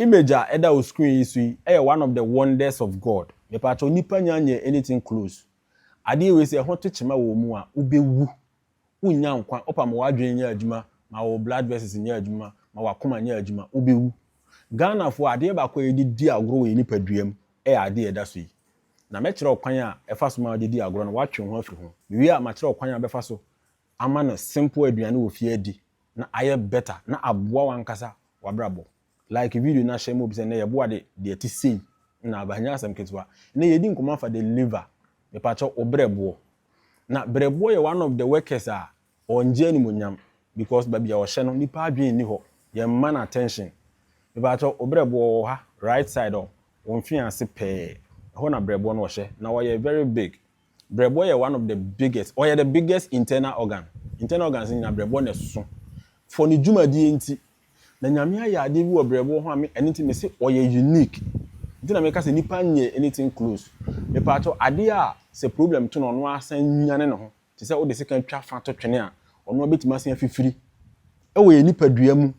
Image a ɛda wo screen yi so yi yɛ one of the wonders of God. Mepakyɛw, nnipa nnya nyɛɛ anything close. Adeɛ wei sɛ ɛho to kyema wɔ wo mu a, wobɛwu. Wonnya nkwa, wopa ma w'adwene nyɛ adwuma, ma wo blood vessels nyɛ adwuma, ma w'akoma nyɛ adwuma, wobɛwu. Ghanafoɔ, adeɛ baako a yɛde di agorɔ wɔ yɛn nipadua mu yɛ adeɛ a ɛda so yi. Na mɛkyerɛ wo kwan a ɛfa so ma wode di agorɔ no, woatwe wo ho afiri ho. Mewie a, makyerɛ wo kwan a wobɛfa so ama no simple aduane wɔ fie adi na ayɛ better na aboa w'ankasa w'abrabɔ. Like video na hyɛ mob sɛ nnɛ yɛboa de deɛ ɛte sei na aba, ɛnyɛ asɛm ketewa. Nnɛ yɛredi nkɔmmɔ afa the liver, mepakyɛw wo berɛboɔ. Na berɛboɔ yɛ one of the workers a ɔngye animuonyam because baabi a ɔhyɛ no nnipa adwene nni hɔ, yɛmma no attention. Mepakyɛw wo berɛboɔ wɔ ha right side hɔ, wo mfean ase pɛɛ, ɛhɔ na berɛboɔ no ɔhyɛ na ɔyɛ very big. Brɛboɔ yɛ one of the biggest, ɔyɛ the biggest internal organ. Internal organs no nyinaa brɛboɔ na ɛsoso for ne dwumadie nti. Na Nyame ayɛ adeɛ bi wɔ brɛboɔ ho a me, ɛno nti me se ɔyɛ unique. Nti na meka sɛ nipa nyɛ anything close. Mepaakyɛw, adeɛ a sɛ problem to no a, ɔno ara san nyane ne ho. Te sɛ wode sekan twa fa to twene a, ɔno ara bɛtumi asan afifiri. Ɛwɔ yɛn nipadua mu,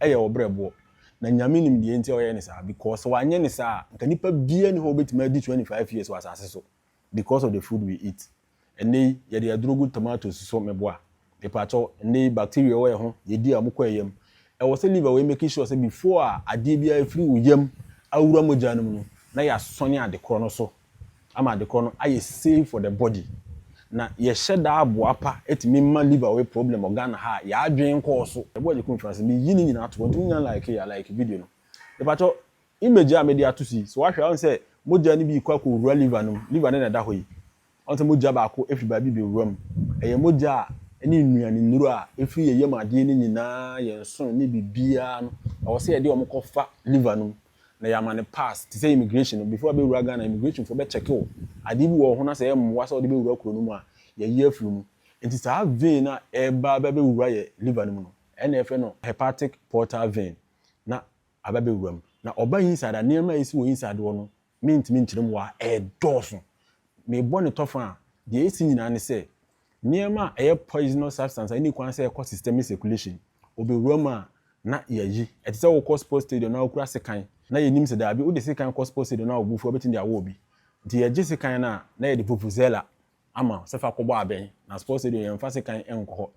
ɛyɛ wɔ brɛboɔ. Na Nyame nim deɛ nti a ɔyɛ ne saa, because sɛ wanyɛ ne saa a, nka nipa biara nni hɔ a ɔbɛtumi adi 25 years wɔ asase so. because of the food we eat. Ɛnnɛ yi yɛde aduro gu tomatoes so meboa. Mepakyɛw, ɛnnɛ yi bacteria a ɛwɔ yɛn ho, yɛdi a wɔkɔ yɛn yam. Ɛwɔ sɛ liver wei make sure sɛ before a adeɛ biara afiri wo yam awura mogya no mu no, na yɛasɔne ade korɔ no so ama ade korɔ no ayɛ safe for the body. Na yɛhyɛ da aboa pa tumi ma liver wei problem wɔ Ghana ha a, yɛadwene nkɔɔ so. Ɛboa Gyekumfi Francis, meyi ne nyinaa to hɔ nti monya like a like video no. Mepakyɛw, Image a mede ato so yi, sɛ woahwɛ a, woahu sɛ mogya no bi rekɔ akɔwura liver no mu. Liver no na ɛda hɔ yi. Woahu sɛ mogya baako firi baabi rebɛwura mu. Ɛyɛ mogya a ɛne nnuanennuro a ɛfiri yɛn yam adeɛ no nyinaa, yɛn nsono ne biribiara no, ɛwɔ sɛ yɛde wɔn kɔfa liver no mu na yɛama no pass. Te sɛ immigration no, before wobɛwura Ghana, immigrationfoɔ bɛkyɛke wo. Adeɛ bi wɔ wo ho na sɛ ɛmmoa sɛ wode bɛwura kuro no mu a, yɛyi afiri mu. Enti saa vein no a ɛreba abɛwura yɛn liver no mu no, ɛnna wɔfrɛ no hepatic portal vein. Na aba bɛwura mu. Na ɔba inside a, nneɛma a ɛsi wɔ inside hɔ no, mentumi nkyerɛ mu wɔ ha, ɛdɔɔso. Mebɔ no tɔfa a, deɛ ɛsi nyinaa ne sɛ, nneɛma a ɛyɛ poisonous substance a ɛnni kwan sɛ ɛkɔ systemic circulation, wɔbɛwura mu a, na yɛayi. Ɛte sɛ wokɔ sports stadium na wokura sekan, na yɛnim sɛ daabi, wode sekan kɔ sports stadium na wobɔ fuo a, wobɛtumi de awɔ obi. Nti yɛgye sekan no a, na yɛde vuvuzela ama wo sɛ fa kɔbɔ abɛn. Na sports stadium yɛmfa sekan nkɔ hɔ.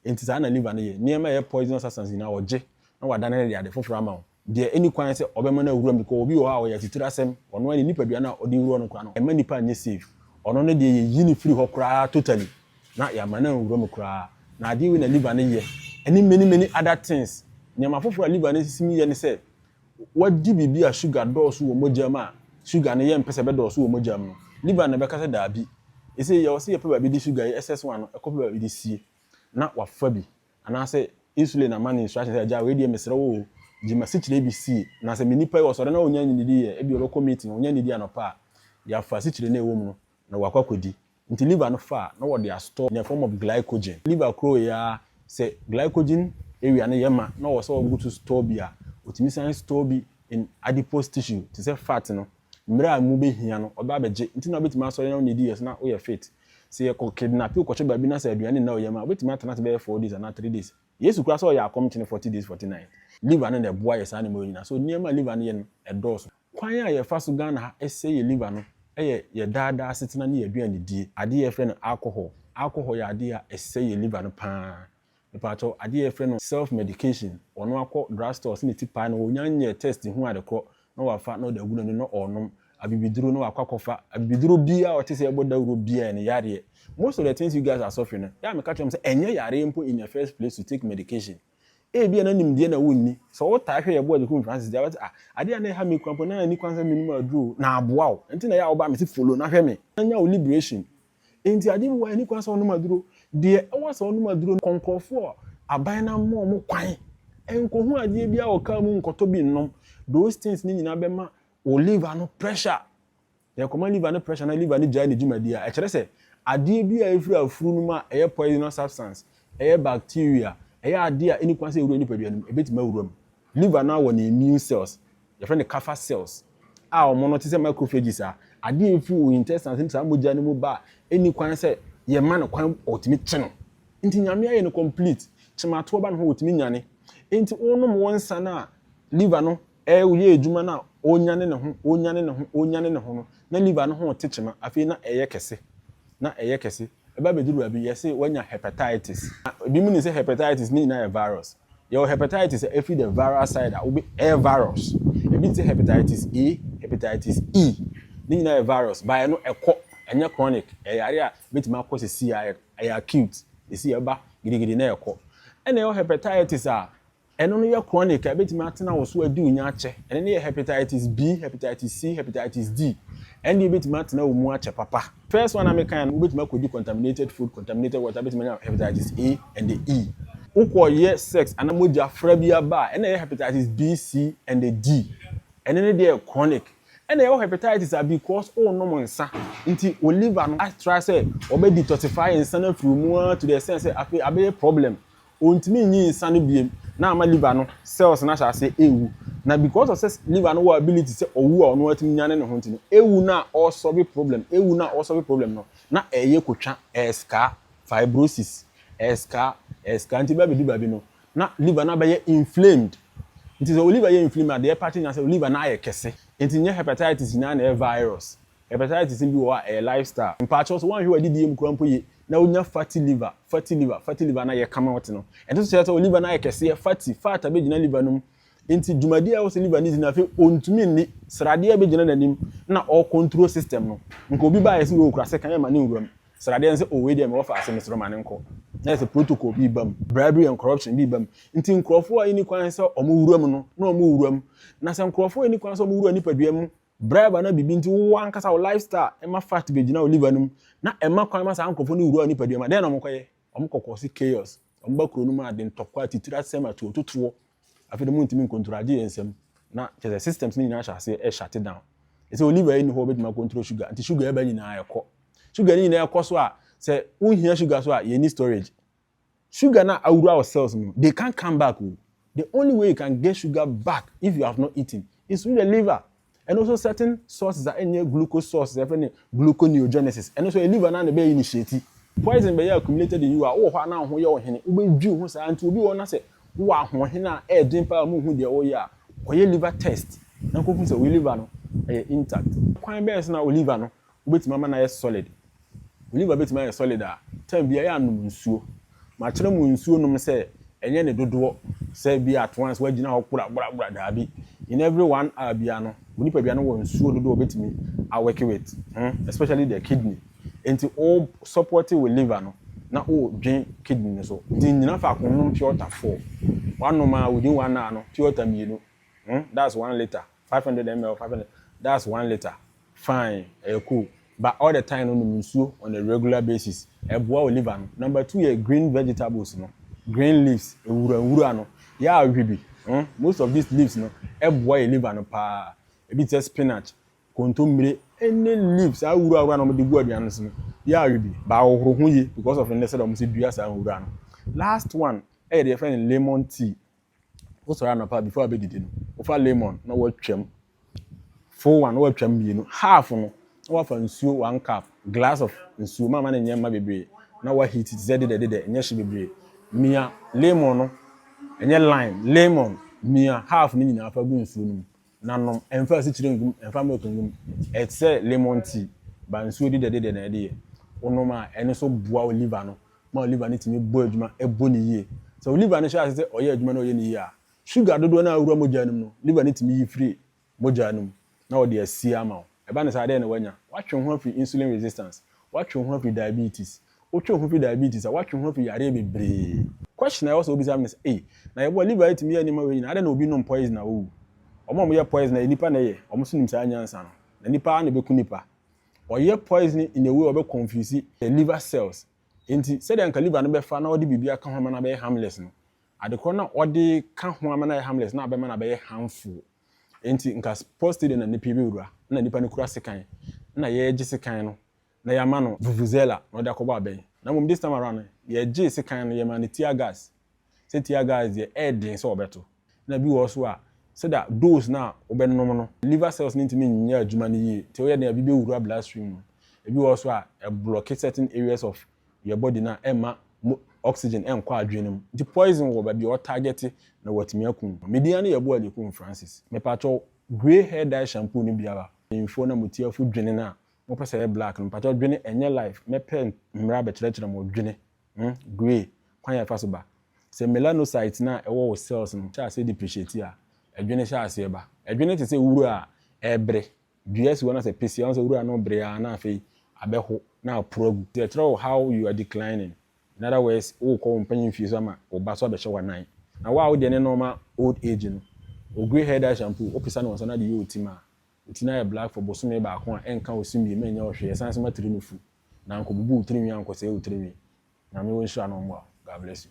Enti saa na liver no yɛ. Nneɛma a ɛyɛ poisonous substance nyinaa ɔgye na wadane no de ade foforo ama wo. Deɛ ɛnni kwan sɛ ɔbɛma no awura mu because obi wɔ hɔ a ɔyɛ atuturasɛm. Ɔno ara ne nipadua no a ɔde wura no koraa no ɛmma nipa nyɛ safe. Ɔno no deɛ yɛyi no firi hɔ koraa totally na yɛama no anwura mu koraa. Na adeɛ wei na liver no yɛ ɛne many many other things. Nneɛma foforo a liver no sisi mu yɛ ne sɛ wadi biribi a sugar dɔɔso wɔ mogya mu a, sugar no yɛmpɛ sɛ ɛbɛdɔɔso wɔ mogya mu no, liver no bɛka sɛ daabi. Ese yɛwɔ sɛ yɛpɛ baabi de sugar yi, SS1 no, ɛkɔpɛ baabi de sie, na wafa bi. Anaasɛ insulin ama no instruction sɛ, Agya, wei deɛ mesrɛ wo o, gye m'asikyire bi sie. Na sɛ me nipa yi, ɔsɔre na ɔnnya nnidi yɛ, ebia ɔbɛkɔ meeting, ɔnnya nnidi anɔpa a, yɛafa asikyire no a ɛwɔ mu no, na wakɔ akɔdi. Nti liver no fa a na wɔde astɔ in a form of glycogen. Liver korɔwee ara sɛ glycogen area no yɛ ma na ɔwɔ sɛ ɔgutu stɔ bi a, otumi san stɔ bi in adipose tissue te sɛ fat no mmerɛ a emu bɛhia no ɔba abɛgye. Nti na wobɛtumi asɔre na wonidi yɛ so na woyɛ fit. Sɛ yɛkɔ kidnape wo kɔhwɛ baabi na sɛ aduane nna wo yam a, wobɛtumi atena ase bɛyɛ four days anaa three days. Yesu koraa sɛ ɔyɛ akɔm kyene forty days forty night. Liver no na ɛboa yɛ saa nneɛma wei nyinaa. So nneɛma a liver no yɛ no ɛdɔɔso. Kwan a yɛfa so Ghana ha sɛe yɛ liver no yɛ yɛ daa daa asetena ne yɛ aduane die. Adeɛ a yɛfrɛ no alcohol. Alcohol yɛ adeɛ a ɛsɛe yɛ liver no pa ara. Mepakyɛw, adeɛ a yɛfrɛ no self medication, ɔno akɔ drug stores ne ti paa na ɔnya nyɛɛ test hu adekorɔ na wafa na ɔde agu n'ani na ɔrenom abibiduro na wakɔ akɔfa abibiduro biara a ɔte sɛ ɛbɔ dawuro biara ne yareɛ most of the things you guys are suffering no yɛ a meka kyerɛ mo sɛ ɛnyɛ yareɛ mpo in the first place to take medication ebia na nimdeɛ na wonni sɛ wotaa hwɛ yɛboa de kum Francis deɛ wate ah adeɛ a na ɛha me kura mpo na ani kwan sɛ menom aduro na aboa wo ɛnti na yɛ a woba me se follow na hwɛ me na nya wo liberation Enti ade bi wɔ hɔ a enni kwan sɛ ɔnom aduro. Deɛ ɛwɔ sɛ ɔnom aduro no, kɔ nkurɔfoɔ a aban no ama wɔn kwan nkɔhu adeɛ biara wɔ kaa mu nkɔtɔ bi nnom. Those things no nyinaa bɛma wo liver no pressure. Na ɛkɔma liver no pressure na liver no gyae ne dwumadie a, ɛkyerɛ sɛ adeɛ biara a ɛfiri afuru no mu a ɛyɛ poisonous substance, ɛyɛ bacteria, ɛyɛ adeɛ a enni kwan sɛ ɛwura nipadua no mu, ɛbɛtumi awura mu. Liver no awɔ ne immune cells Yɛfrɛ no Kapha cells a wɔn no te sɛ macrophages a adeɛ a ɛfiri wo intestines no mu saa mogya no mu ba a ɛnni kwan sɛ yɛma no kwan ɔtumi kye no nti Nyame ayɛ no complete kyematoɔ ba ne hɔ ɔtumi nyane nti wonom wo nsa no a liver no yɛ adwuma no a ɔnyane ne ho ɔnyane ne ho ɔnyane ne ho no na liver no ho te kyema afei na ɛyɛ kɛse. na ɛyɛ kɛse. Ɛba bedu baabi, yɛse wanya hepatitis. Na ebinom nim sɛ hepatitis ne nyinaa yɛ virus. Yɛwɔ hepatitis a efi the viral side a wobe ɛyɛ virus. Ebi te sɛ hepatitis A, hepatitis E. Ne nyinaa yɛ virus. Baeɛ no, ɛkɔ. Ɛnyɛ chronic. Ɛyɛ yareɛ a ebetumi akɔ seesei ara, ɛyɛ acute. Seesei ɛba gidigidi na ɛkɔ. Ɛna yɛwɔ hepatitis a Ɛno no yɛ chronic a ɛbɛtumi atena wo so adi wo nya akyɛ. Ɛno no yɛ hepatitis B, hepatitis C, hepatitis D. Ɛno deɛ ɛbɛtumi atena wo mu akyɛ papa. First one a mekaeɛ no, wobɛtumi akɔdi contaminated food, contaminated water, wobɛtumi anya hepatitis A and E. Wokɔyɛ sex anaa mogya fra bi aba a, ɛna ɛyɛ hepatitis B, C and D. Ɛno no deɛ yɛ chronic. Ɛna yɛwɔ hepatitis a because worenom nsa nti wo liver no atry sɛ wɔbɛ detoxify nsa no afiri wo mu ara to the extent sɛ afei abɛyɛ problem. Ontumi nyi nsa no biom na ama liver no cells no ahyɛ aseɛ ɛɛwu. Na because of sɛ liver no wɔ ability sɛ ɔwu a ɔno ara tumi nyane ne ho nti no, ɛwu no a ɔresɔlve problem, ɛwu no a ɔresɔlve problem no na ɛɛyɛ kotwa, ɛɛskaa, fibrosis, ɛɛskaa, ɛɛskaa nti bɛɛbɛdu baabi no na liver no abɛyɛ inflamed. Nti sɛ wo liver yɛ inflamed a deɛ ɛpate nyinaa sɛ wo liver no ayɛ kɛse. Nti nyɛ hepatitis nyinaa na ɛyɛ virus. Hepatitis bi wɔ hɔ a ɛyɛ life style. Mpaakyɛw sɛ woanhwɛ w'adidie mu koraa mpo ye na wonya fatty liver, fatty liver, fatty liver na yɛ kama wote no. Ɛnte so kyerɛ sɛ wo liver no ayɛ kɛseɛ, fatty, fat abɛgyina liver no mu. Enti dwumadie a ɛwɔ sɛ liver no di no afei ɔntumi nni, sradeɛ bɛgyina n'anim na ɔɔ control system no. Nka obi baeɛ sɛ wei okura sekan ɛma ne nwura mu, sradeɛ no sɛ oh wei deɛ mewɔ faase mesrɛ wo ma no nkɔ. Na ayɛ sɛ protocol bi reba mu, bribery and corruption bi reba mu. Nti nkurɔfoɔ a ɛnni kwan sɛ wɔwura mu no na wɔwura mu. Na sɛ nkurɔfoɔ a ɛnni kwan sɛ wɔwura nipadua mu Bribe anaa biribi nti, wo ankasa wo lifestyle ɛma fat bɛgyina wo liver no mu, na ɛma kwan ma saa nkorɔfoɔ no wura wo nipadua mu a, dɛn na wɔkɔyɛ? Wɔkɔ cause chaos. Wɔba kuro no mu a, ntɔkwa, atitire asɛm, atuototoɔ. Afei deɛ montumi ncontrol agye yɛn nsam. Na kyerɛ sɛ systems no nyinaa hyɛ aseɛ ɛ shut down. Ɛsɛ wo liver yi nni hɔ a wobɛtumi acontrol sugar, nti sugar ɛba nyinaa ɛkɔ. Sugar no nyinaa ɛkɔ so a, sɛ wohia sugar so a, yɛnni storage. sugar no awura wɔ cells mu no, they can't come back o. The only way you can get sugar back if you have not eaten is through the liver. Ɛno nso certain sources a ɛnyɛ glucose sources a yɛfrɛ no gluconeogenesis, ɛno nso ɛyɛ liver no ara na ɛbɛ initiate. Poison bɛyɛ accumulated in you a, wowɔ hɔ a na wo ho yɛ wo hene, wobɛdwi wo ho saa nti obi wɔ hɔ na sɛ wowɔ ahoɔhene a ɛyɛ den paa a ɔma ohu deɛ ɔreyɛ a, kɔyɛ liver test na kɔhu sɛ wo liver no ɛyɛ intact. Kwan bɛn so na wo liver no Wobɛtumi ama no ayɛ solid. Wo liver bɛtumi ayɛ solid a, time biara yɛ a nom nsuo. Makyerɛ mo nsuo nom sɛ ɛnyɛ ne dodoɔ, sɛ bi a at once woagyina hɔ kora bora bora, daabi. In every one hour biara no, wo nipadua no wɔ nsuo dodoɔ a ɔbɛtumi a work with ho, especially the kidney. Nti wo support wo liver no na wo dwen kidney no so. Nti nnyina faako nnom pure water four. Woanom a within one hour no pure water mmienu, that's one litre. Five hundred ml five hundred that's one litre fine ɛyɛ cool but all the time no nom nsuo on a regular basis ɛboa wo liver no number two yɛ green vegetables no green leaves nwura nwura no yɛ a hwɛ bi hmm? most of these leaves no ɛboa yɛ liver no paa ebi te sɛ spinach kontommire any leaves saa wura wura na wɔde gu aduane no so no yɛ a hwɛ bi baa wɔhoro ho yie because of nnɛ sɛ wɔn sɛ dua saa nwura no last one ɛyɛ deɛ yɛfrɛ no lemon tea Wosɔre anɔpa before abɛdidi no, wofa lemon na woatwam. Full one na woatwam mmienu. Half no, na woafa nsuo one cup, glass of nsuo, mama no nyɛ mma bebree, na woaheat te sɛ dedɛ dedɛ, ɛnyɛ hye bebree. Mia lemon no, ɛnyɛ lime, lemon, mia half no nyinaa fa gu nsuo no mu. Na nom. Ɛmfa asikyire ngum, ɛmfa milk ngum. Ɛyɛ te sɛ lemon tea, but nsuo dedɛdedɛ na ɛde yɛ. Wonom a, ɛno nso boa wo liver no ma wo liver no tumi bɔ adwuma, ɛbɔ no yie. Sɛ wo liver no hyɛ aseɛ sɛ ɔyɛ adwuma na ɔyɛ no yie a, sugar dodoɔ no a awura mogya no mu no, liver no tumi yi firi mogya no mu na ɔde asie ama wo. Ɛba no saa a, dɛn na woanya? Woatwe wo ho afiri insulin resistance, woatwe wo ho afiri diabetes. Wotwe wo ho firi diabetes a, woatwe wo ho afiri yareɛ bebree. Question a ɛwɔ sɛ wobisa me no sɛ, Ei, na yɛboa liver a ɛtumi yɛ nneɛma wei nyinaa, adɛn na obi nom poison a ɔwu? Wɔn a wɔyɛ poison no, ɛyɛ nnipa na ɛyɛ, wɔn nso nim saa nyansa no, na nnipa ara na ɛbɛku nnipa. Wɔyɛ poison in a way a wɔbɛ confuse the liver cells. Enti, sɛdeɛ anka liver no bɛfa na ɔde biribi aka ho ama no abɛyɛ harmless no, adekorɔ no a ɔde ka ho ama no ayɛ harmless no abɛma no abɛyɛ harmful. Enti nka sports stadium na nnipa yi bɛwura, na nnipa no kura sekan, na yɛregye sekan no na yɛama no vuvuzela na ɔde akɔbɔ abɛn. Na mmom this time around no, yɛgyee sekan no, yɛmaa no tear gas. Sɛ tear gas deɛ, ɛyɛ den sɛ wɔbɛto. Ɛna bi wɔ hɔ nso a, sɛdeɛ dose no a wobɛnom no, liver cells no ntumi nyɛ adwuma no yie, nti ɛyɛ den a, ebi bɛwura blood stream mu. Ebi wɔ hɔ nso a, ɛblɔke certain areas of your body no a ɛmma mo oxygen ɛnkɔ adwene no mu nti poison wɔ baabi a ɔ target na watumi akum no. Me din ara ne Yeboah Likum Francis. Mepakyɛw grey hair dye shampoo no biara mpanyimfoɔ na mo tiafo dwene no a mopɛ sɛ ɛyɛ black no mepakyɛw dwene ɛnyɛ life mɛpɛ mmra bɛkyerɛkyerɛ mo dwene hmm grey kwan a ɛfa so ba sɛ melanocyte no a ɛwɔ wo cells no hyɛ aseɛ depreciate a ɛdwene hyɛ aseɛ ba ɛdwene te sɛ wura a ɛɛbere dua si hɔ na sɛ peseɛ a, wohu sɛ wura no bere ara na afei abɛho na aporo agu. Nti ɛkyerɛ wo how you are declining. In other words, worekɔ wo mpanyin fie so ama wo ba nso abɛhyɛ w'anan. Na wo a wo deɛ ne nɔɔma old age no, wo grey hair dye shampoo, wopesa no wɔ nsa na de yɛ wo ti ma wo ti no ayɛ black for bosome baako a, ɛnka wo se mmiem ɛnyɛ wo hwee, ɛsan nso ma tiri no fu. Na nkɔbubu wo tirinwi ankɔsɛe wo tirinwi. Nyame ɔnhyira na ɔmmoa wo. God bless you.